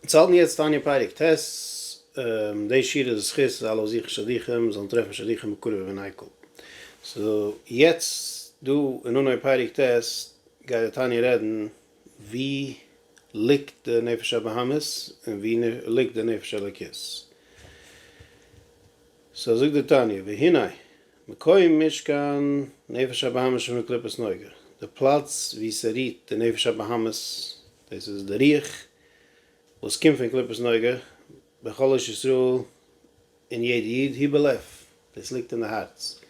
אונז האלטן יעצט תניא פרק ט', די שיעור איז זכות אז אלע וואס זוכן שדוכים זאלן טרעפן שדוכים מקורב ומנעקל. סאו יעצט דא אין אנהויב פרק ט' גייט דער תניא רעדן ווי ליגט די נפש הבהמית און ווי ליגט די נפש האלוקית. סאו זאגט דער תניא, והנה. מקום משכן נפש הבהמה שמקליפת נוגה, די פלאץ וואו ס'רוהט די נפש הבהמית, דאס איז די רוח וואס קומט פון קליפת נוגה, בכל איש ישראל אין יעדע איד, היא בלב, דאס ליגט אין די הארץ,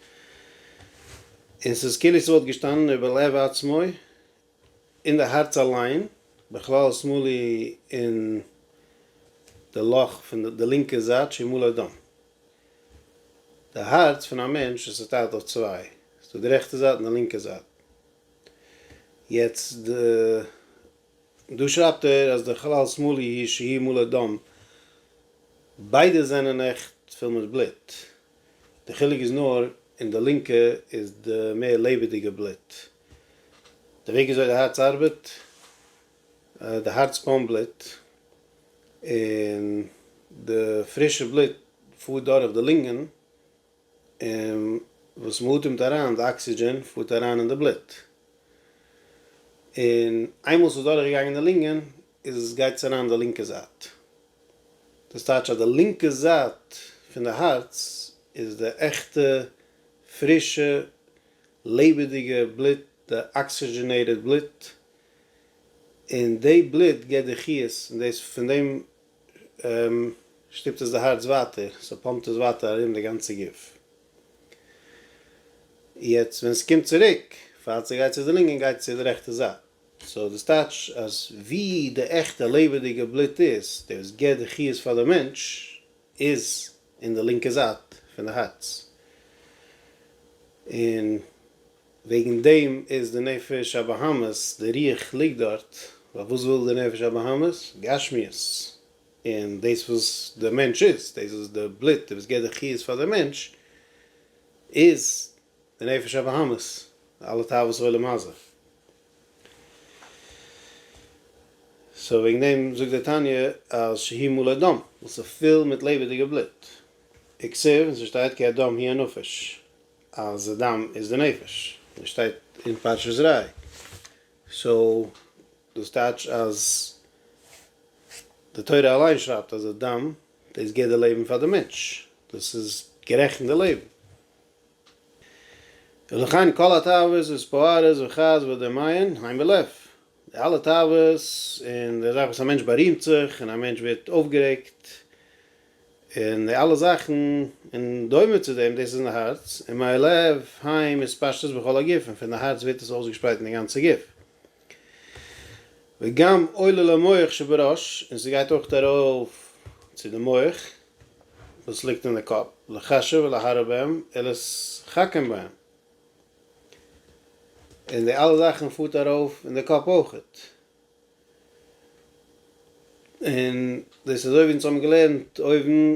און ס'איז כאילו ס'וואלט געשטאנען איבער לב עצמו, אין די הארץ אליין, בכלל שמאלי אין די לאך פון די לינקע זייט שימאלי דום. די הארץ פון א מענטש איז צוטיילט אויף צוויי, עס איז דא די רעכטע זייט און די לינקע זייט. יעצט די, דא שרייבט ער אז די כלל שמאלי היא שהיא מלא דם, ביידע זענען עכט פול מיט בלוט, די חילוק איז נאר אין די לינקע איז די מער לעבעדיגע בלוט, די וועג וויאזוי די הארץ ארבעט, די הארץ פאמפט בלוט און די פרישע בלוט פארט דורך די לונגען און וואס מען אטעמט אריין די אקסידזשען פארט אריין אין די בלוט און איינמאל ס'איז דורך געגאנגען די לונגען איז עס גייט עס אריין די לינקע זייט דאס טייטש אז די לינקע זייט פון די הארץ איז די עכטע פרישע לעבעדיגע בלוט, די אקסיגענעטעד בלוט, און די בלוט געבט די חיות, און דאס פון דעם שטופט עס די הארץ ווייטער, ס'פאמפט עס ווייטער ארום די גאנצע גוף. יעצט ווען עס קומט צוריק, פאר ס'גייט צו די לונגען גייט עס צו די רעכטע זייט, סאו דאס טייטש אז ווי די עכטע לעבעדיגע בלוט איז, די וואס געבט די חיות פאר די מענטש, איז אין די לינקע זייט פון די הארץ, און וועגן דעם איז די נפש הבהמית, די רוח ליגט דארט, ווייל וואס וויל די נפש הבהמית? גשמיות, און דאס וואס דער מענטש איז, דאס איז די בלוט וואס געבט די חיות פאר דער מענטש, איז די נפש הבהמית, די אלע תאוות עולם הזה. סאו וועגן דעם זאגט די תניא אז שהיא מלא דם, ווייל ס'איז פול מיט לעבעדיגע בלוט. איקסער, און ס'שטייט כי הדם היא הנפש, אז די דם איז די נפש. און ס'שטייט אין פרשת זרעי. סאו דאס טייטש אז די תורה אליין שרייבט אז די דם, דאס גיט די לעבן פאר די מענטש. דאס איז גערעכנט די לעבן. ולכן כל התאוות וספוארס וכעס ודמיון הן בלב. די אלע תאוות און די זאך וואס א מענטש בארימט זיך און א מענטש ווערט אויפגערעגט און די אלע זאכן און דומה צו דעם דאס איז אין די הארץ און מהלב היים איז פשטות בכל הגוף און פון די הארץ ווערט עס אויסגעשפרייט אין די גאנצע גוף. וגם עולה למח שבראש, און ס'גייט אויך ארויף צו די מח וואס ליגט אין די קאפ, לחשב ולהרע בהם ולהתחכם בהם, און די אלע זאכן פארט ארויף אין די קאפ אויך, און דאס איז אזוי ווי אונז האבן געלערנט אויבן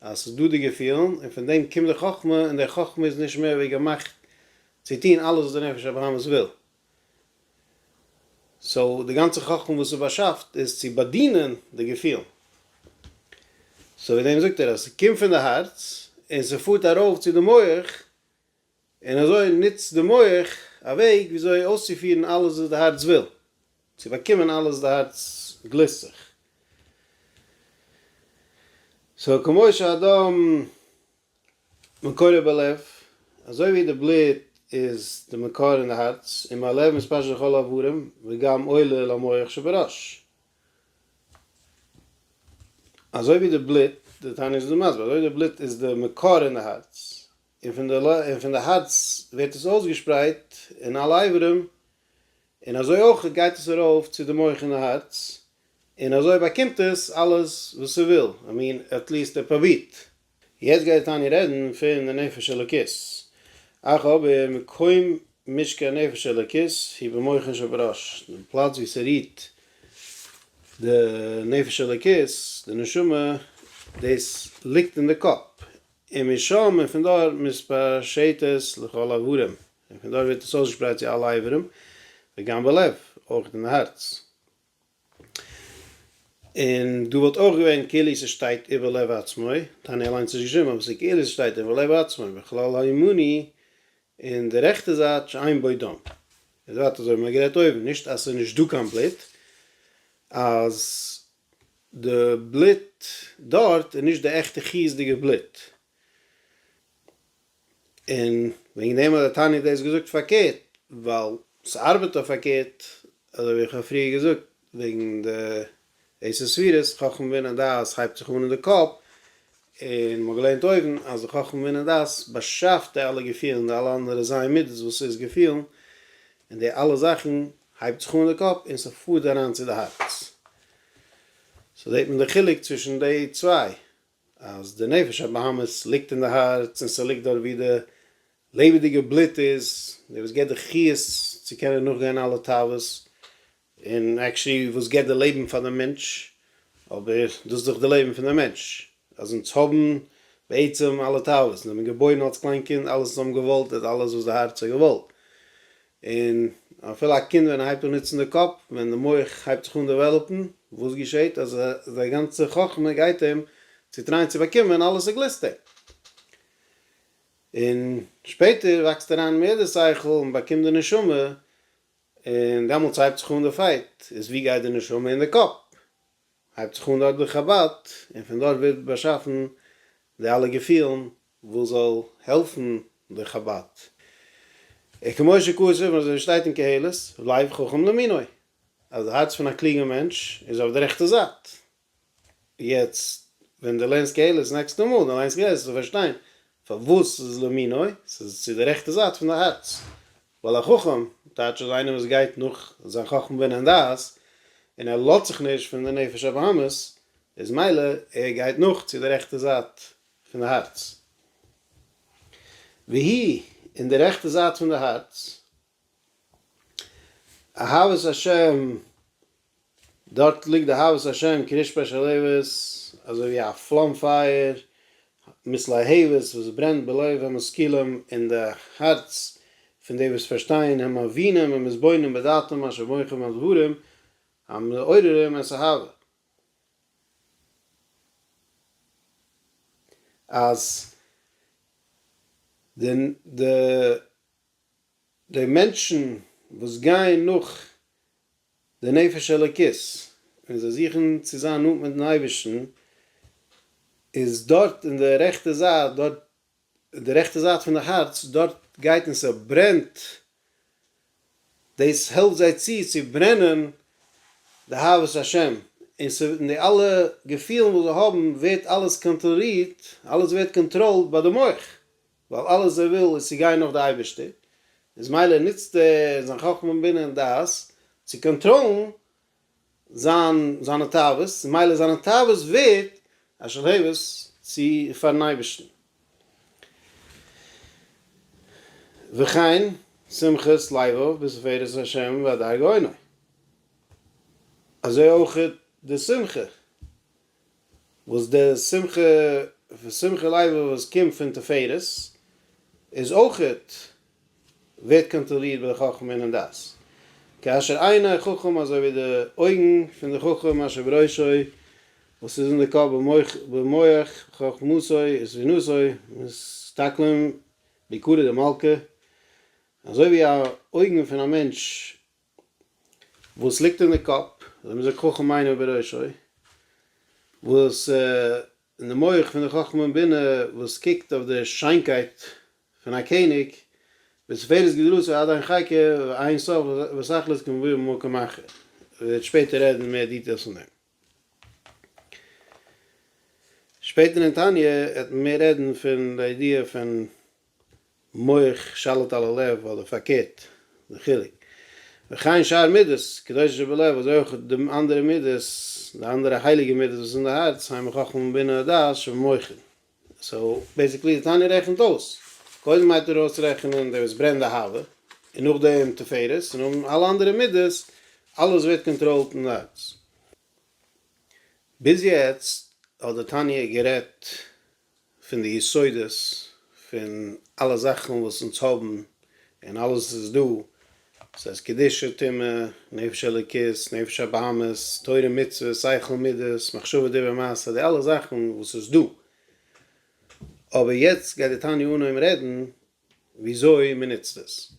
אז ס'איז דא די געפילן, און פון דעם קומט די חכמה, און די חכמה איז נישט מער ווי געמאכט צו טון אלעס וואס די נפש הבהמית וויל. סאו די גאנצע חכמה וואס איז באשאפט איז צו באדינען די געפילן. סאו וועגן דעם זאגט ער אז ס'קומט פון די הארץ און ס'פארט ארויף צו די מח, און אזוי נוצט די מח א וועג וויאזוי אויסצופירן אלעס וואס די הארץ וויל, צו באקומען אלעס וואס די הארץ גליסט זיך. סאו כמו שהדם מקורו בלב, אזוי ווי די בלוט איז די מקור אין די הארץ, און מהלב מספשר לכל האברים, וגם עולה למח שבראש. אזוי ווי די בלוט, די תניא איז דא מסביר, אזוי ווי די בלוט איז די מקור אין די הארץ, און פון די און פון די הארץ ווערט עס אויסגעשפרייט אין אלע איברים, און אזוי אויך גייט עס ארויף צו די מח און די הארץ, און אזוי באקומט עס אלעס וואס ס'וויל, איי מין עטליעסט ער פרובירט. יעצט גייט די תניא רעדן פון די נפש אלוקית, אך אבער מקום משכן הנפש האלוקית הוא במוחין שבראש, די פלאץ וואו ס'רוהט די נפש אלוקית, די נשמה, דאס ליגט אין די קאפ, און משם און פון דארט מתפשט עס לכל אברים, און פון דארט ווערט עס אויסגעשפרייט צו אלע אברים, וגם בלב, אויך אין די הארץ. און דא וואלט אויך געווען כאילו ס'שטייט איבער לב עצמו, תניא אליינס נישט געשריבן, אבער ס'כאילו ס'שטייט איבער לב עצמו, בכלל הימני, און די רעכטע זייט שאין בו דם. און ווייטער אזוי ווי מ'האט גערעדט אויבן, נישט אז ס'איז נישט דא קיין בלוט, אז די בלוט דארט איז נישט די עכטע חיות'דיגע בלוט. און וועגן דעם האט דער תניא דאס געזאגט פארקערט, ווייל ס'ארבעט אויף פארקערט, אזוי ווי איך האב פריער געזאגט וועגן די עשר ספירות, חכם בינה דעת הייבט זיך אן אין די קאפ, און מ'האט געלערנט אויבן אז די חכמה בינה דעת באשאפט די אלע געפילן, די אלע אנדערע זיין מידות וואס איז געפילן, און די אלע זאכן הייבט זיך אן אין די קאפ און ס'פארט אריין צו די הארץ. סאו זעט מען די חילוק צווישן די צוויי, אז די נפש הבהמית ליגט אין די הארץ און ס'ליגט דארט ווי די לעבעדיגע בלוט איז, די וואס געבט די חיות צו קענען נאכגיין אלע תאוות, און עקשעלי וואס געט די לעבן פאר די מענטש, אבער דאס איז דאך די לעבן פון די מענטש, אז אונז האבן בעצם אלע תאוות, אונז זעמיר געבוירן אלס קליין קינד, אלעס וואס האבן געוואלט איז אלעס וואס די הארץ האט געוואלט, און אפילו א קינד ווען ער הייבט אן נוצן די קאפ, ווען די מח הייבט זיך אן דעוועלאפן, וואס געשעט אז זיין גאנצע חכמה גייט אים צו טרייען צו באקומען אלעס וואס גליסט אים, און שפעטער וואקסט ער אריין אין מער די שכל און באקומט די נשמה, און דעמאלטס הייבט זיך אן די פייט, איז ווי גייט די נשמה אין די קאפ? הייבט זיך אן דארט די חבד, און פון דארט ווערט באשאפן די אלע געפילן וואס זאל העלפן די חבד. און כמו שכתוב אזוי שטייט אין קהלת, לב חכם למינוי, אז די הארץ פון א קלוגען מענטש איז אויף די רעכטע זייט, יעצט ווען דו לערנסט קהלת נעקסטע מאל דו ליינסט קהלת זאלסטו פארשטיין פארוואס עס איז למיני', עס איז צו די רעכטע זייט פון די הארץ, ווייל א חכם טייטש אז איינער וואס גייט נאך זיין חכמה בינה און דעת און ער לאזט זיך נישט פון די נפש הבהמית איז מילא ער גייט נאך צו די רעכטע זייט פון די הארץ, והיא, און די רעכטע זייט פון די הארץ. אהבת השם, דארט ליגט די אהבת השם קרית שפעשעלעוועס, אזוי ווי א פלאם פייער מיט להבות וואס ברענט בלב המשכילים אין די הארץ פון די וואס פארשטייען הם מבינים הם מתבוננים בדעתם אשר מוחם על דברים המעוררים את האהבה. אז די די מענטשן וואס גייען נאך די נפש אלוקית און זיי זוכן צו זיין נאנט מיטן אייבערשטן, איז דארט אין די רעכטע זייט דארט, די רעכטע זייט פון די הארץ, דארט גייט און ס'ברענט, דאס העלפט זיי צו צו ברענען די אהבת השם, און ס' און די אלע געפילן וואס זיי האבן ווערט אלעס קאנטראלירט, אלעס ווערט קאנטראלד ביי די מח. ווייל אלעס ווער וויל איז צו גיין נאך די אייבערשטער, איז מילא נוצט ער זיין חכמה בינה און דעת צו קאנטראלן זיין זיינע תאוות, און מילא זיינע תאוות ווערט א שלהבת צו פארן אייבערשטן. וכן שמחת לבו בתפארת השם והדר גאונו, אזוי אויך די שמחה וואס דער שמחה ושמחה לייווע וואס קומט פון תפארת איז אויכעט ווערט קאנטראלירט ביי די חכם און אין דעת כאשר עיני החכם אזוי ווי די אויגן פון די חכם אשר בראשו וואס איז אין די קאפ במוח חכמתו וזקנותו מסתכלים בעיקרא דמלכא אזוי ווי א אויגן פון א מענטש וואס ליגט אין די קאפ, אזוי מען זאגט חכם עיניו בראשו, וואס אין די מח פון די חכמה און בינה וואס קוקט אויף די שיינקייט פון א קעניג, בתפארת גדלותו עד אין חקר ואין סוף ושכל איז כמבואר במקום אחר, מען וועט שפעטער רעדן מער דיטעילס פון דעם. שפעטער אין תניא וועט מען מער רעדן פון די ידיעה פון מח שליט על הלב אדער פארקערט די חילוק. וכן שאר מידות קדושה שבלב אזוי אויך די אנדערע מידות די אנדערע הייליגע מידות וואס איז אין די הארץ המה חכמה בינה ודעת שבמוחין. סאו בעסיקלי די תניא רעכנט אויס, קודם הייבט ער אן אויסרעכענען די וואס ברענט די הווא, און נאכדעם תפארת, און נאכדעם אלע אנדערע מידות, אלעס ווערט קאנטראלט אין הארץ. ביז יעצט האט די תניא גערעדט פון די יסודות פון אלע זאכן וואס אונז האבן, און אלעס איז דא סאיז אז קדושה, טומאה, נפש אלוקית, נפש הבהמית, תורה מצוות, שכל מידות, מחשבה דיבור מעשה, די אלע זאכן וואס איז דא, אבער יעצט גייט די תניא אנהויבן רעדן וויאזוי מען נוצט עס,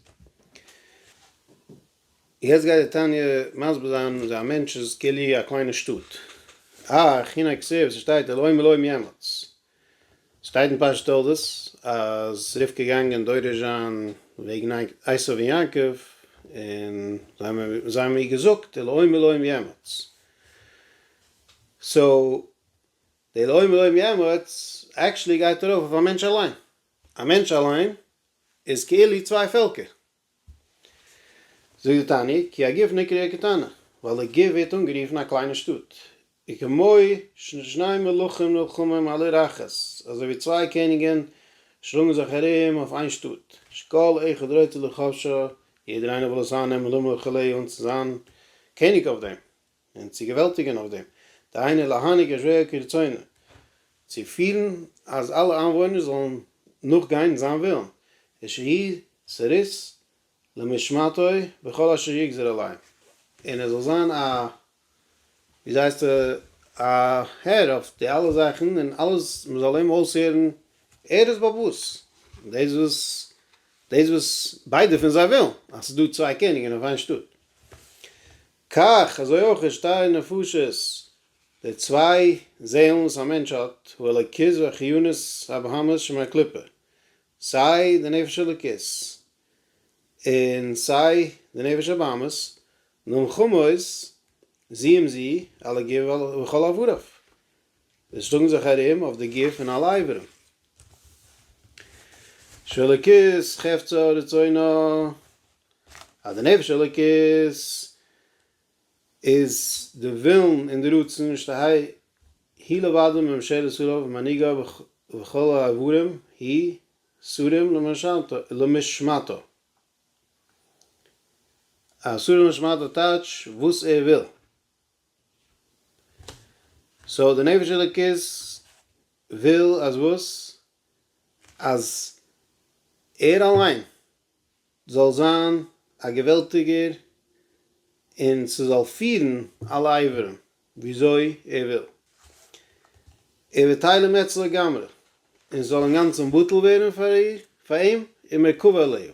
יעצט גייט די תניא מסביר זיין אז א מענטש איז כאילו א קליינע שטאט, אה, כינה כסא וואס עס שטייט אלוהים אלוהים יעמץ, שטייט אין פרשת תולדות אז רבקה איז געגאנגען דורש זיין וועגן עשו און יעקב, און זיי האבן איר געזאגט די אלוהים אלוהים יעמוד, סאו די אלוהים אלוהים יעמוד עקטשעלי גייט ארויף אויף א מענטש אליין, א מענטש אליין איז כאילו צוויי פעלקער, זאגט די תניא, כי הגוף נקרא עיר קטנה, ווייל די גוף ווערט אנגערופן א קליינע שטאט, וכמו ששני מלכים נלחמים על עיר אחת, אזוי ווי צוויי קעניגן שלאגן זיך ארום אויף איין שטאט, שכל אחד רוצה לכבשה, יעדער איינער וויל עס אייננעמען, למה וכו' און צו זיין קעניג אויף דעם. און צו געוועלטיגען אויף דעם, דהיינו להנהיג את רעהו כרצונו, צו פירן אז אלע איינוואוינער זאלן נאכגיין זיין ווילן, ושהי' סריס למשמעתו בכל אשר יגזור עליו, און ער זאל זיין א, ווי זייסט, א הער אויף די אלע זאכן, און אלעס, מען זאל אים אויסהערן ערות באבות, דאס וואס, דאס וואס ביידע פון זיי ווילן, אז ס'איז דא צוויי קעניגען אויף איין שטאט. כך, אזוי אויך איז שתי נפשות, די צוויי זעלן וואס א מענטש האט, הוא אלוקות והחיונות הבהמית שמהקליפה, סיי די נפש אלוקות און סיי די נפש הבהמית, נמכמות זי עם זי, על הגוף וכל אבריו, זיי שלאגן זיך ארום אויף די גוף און אלע אברים. שאלוקית חפצא רצונו, אז די נפש אלוקית איז די ווילן און די רצון, שטהי, היא לבדה ממשלת עליו ומנהיגה וכל האברים היא סרים למשמעתו. א סור למשמעתו טייטש וואס ער וויל. סאו די נפש אלוקית וויל אז וואס? אז ער אליין זאל זיין א געוועלטיגער און ס'זאל פירן אלע אברים וויאזוי ער וויל. ער וועט טיילן מעץ לגמרי און ס'זאל אינגאנצן בטל ווערן פאר אים ומקוה עליו.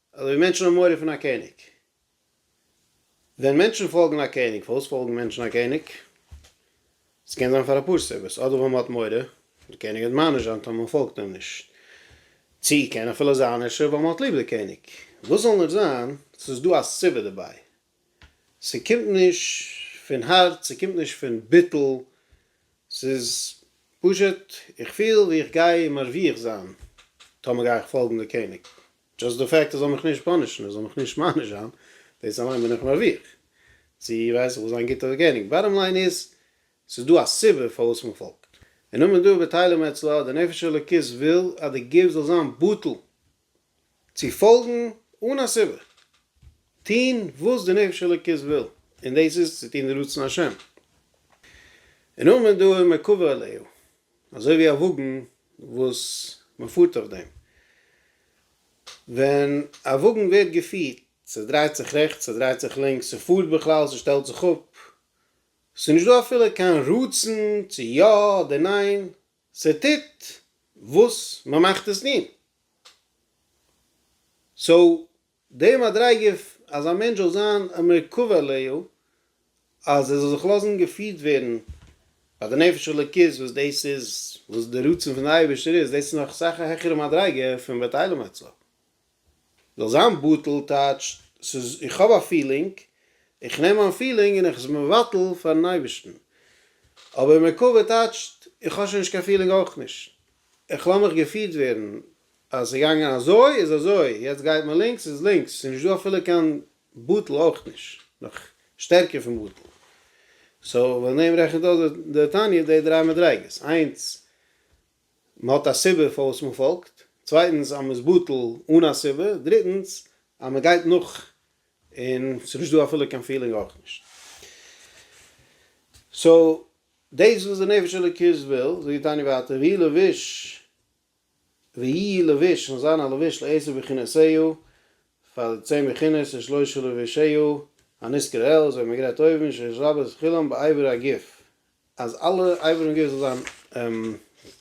אזוי ווי מענטשן האבן מורא פון א קעניג. ווען מענטשן פאלגן א קעניג, פארוואס פאלגן מענטשן א קעניג? עס קען זיין פאר אפאר סיבות, אדער ווייל מען האט מורא, דער קעניג וועט מעניש זיין טאמער מען פאלגט אים נישט. צי קען אפילו זיין אפשר ווייל מען האט ליב די קעניג. וואס זאל נאר זיין, עס איז דא א סיבה דערביי. ס'קומט נישט פון הארץ, ס'קומט נישט פון ביטול, ס'איז פשוט איך פיל ווי איך גיי מרוויח זיין טאמער גיי איך פאלגן די קעניג. דזשאסט די פעקט ער זאל מיך נישט פאנישן ער זאל מיך נישט מעניש זיין דאס אליין בין איך מרוויח צו ווייס איך וואס זיין גוטע גענוג באטעם ליין איז ס'איז דא א סיבה פארוואס מען פאלגט און נאמען דא בטלה מאצלה די נפש האלוקית וויל אז די גוף זאל זיין בטל צו פאלגן אן א סיבה טוהן וואס די נפש האלוקית וויל און דאס איז צו טוהן די רצון השם און נאמען דא איז מקובל עליו אזוי ווי א וואגן וואס מען פארט אויף דעם. ווען א וואגן ווערט געפירט, ס'דרייט זיך רעכטס, ס'דרייט זיך לינקס, ס'פארט בכלל, ס'שטעלט זיך אפ, ס'איז נישט דא אפילו קיין רצון צו יא אדער ניין, ס'טוט וואס מען מאכט עס טון. סאו די מדריגה אז א מענטש זאל זיין א מקוה אליהו, אז ער זאל זיך לאזן געפירט ווערן ביי די נפש אלוקית וואס דאס איז וואס די רצון פון די אייבערשטער איז, דאס איז נאך אסאך א העכערע מדריגה פון בתהלים אצה ל. זאל זיין בטל טייטש ס'איז איך האב א פילינג, איך נעם מיין פילינג און איך עס מבטל פארן אייבערשטן. אבער מקוה טייטשט איך האב שוין נישט קיין פילינג אויך נישט, איך לאז מיך געפירט ווערן אז ס'איז געגאנגען אזוי איז אזוי, יעצט גייט מען לינקס איז לינקס, ס'איז נישט דא אפילו קיין בטל אויך נישט, נאך שטערקער פון בטל. סאו ווען דעם רעכנט אויס די תניא די דריי מדריגות, איינס מען האט א סיבה פארוואס מען פאלגט, צווייטנס אז מען איז בטל אן א סיבה, דריטנס אז מען גייט נאך און ס'איז נישט דא אפילו קיין פילינג אויך נישט. סאו דאס איז וואס די נפש אלוקית וויל, זאגט די תניא ווייטער והיא לבוש ויהי לבוש און זיין א לבוש לעשר בכינותיו פאר צען בכינוס און שלושה לבושיו הנזכר לעיל אזוי ווי מען גרייט אויבן שש רבות כולם באיבר הגוף אז אלע אברים גוף זאל זיין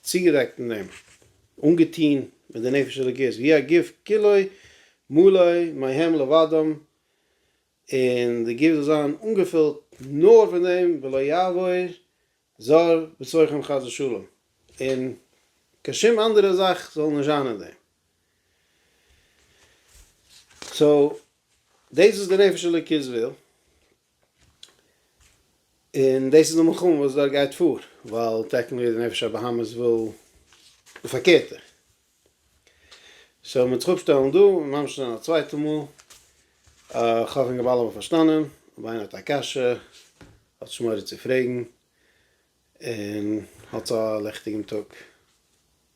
צוגעדעקט אין דעם אנגעטוהן מיט די נפש אלוקית ויהי הגוף כולו מלא מהם לבדם און די גוף זאל זיין אנגעפילט נאר פון דעם ולא יעבור זר בצרכם חס ושלום, און קיין שום אנדערע זאך זאל נישט זיין אין דעם. סאו דאס איז די נפש אלוקית וויל, און דאס איז די מלחמה וואס דארט גייט פאר, ווייל טעקניקלי די נפש הבהמית וויל די פארקערטע, שוין מיט זיך אפשטעלן דא און ממשיך זיין א צווייטע מאל, איך האף אינגאלאנד האבן פארשטאנען, אויב איינער האט א קשיא האט שמורה צו פרעגן, און האטס א לעכטיגן טאג.